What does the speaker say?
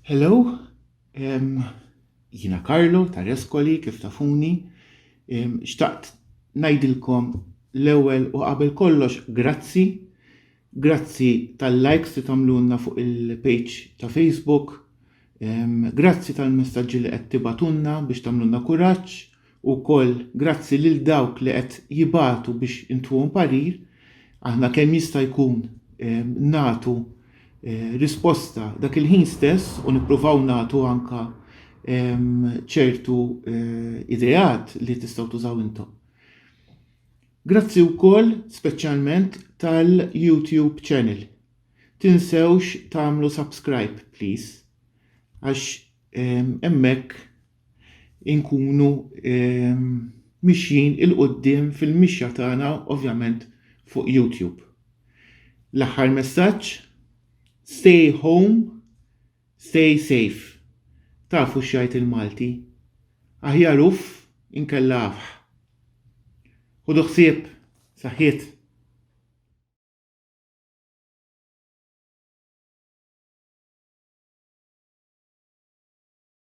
Hello, um, jina Karlo ta' Reskoli kif tafuni, um, xtaqt najdilkom l-ewel u qabel kollox grazzi, grazzi tal-likes li tamlunna fuq il-page ta' Facebook, um, grazzi tal-messagġi li qed tibatunna biex tamlunna kuraġġ Ukoll grazzi lil dawk li qed jibagħtu biex intuhom parir, aħna kemm jista' jkun nagħtu risposta dak il-ħin stess u nippruvaw nagħtu anke ċertu ideat li tistgħu tużaw intom. Grazzi wkoll speċjalment tal-YouTube channel. Tinsewx tagħmlu subscribe please għax hemmhekk inkunu mixjin il-qudiem fil-mixja tagħna ovvjament fuq YouTube. L-aħħar messaġġ, stay home, stay safe. Tafu x'jgħid il-Malti. Aħjar uff inkella afħ. Ħudu ħsieb, saħħiet.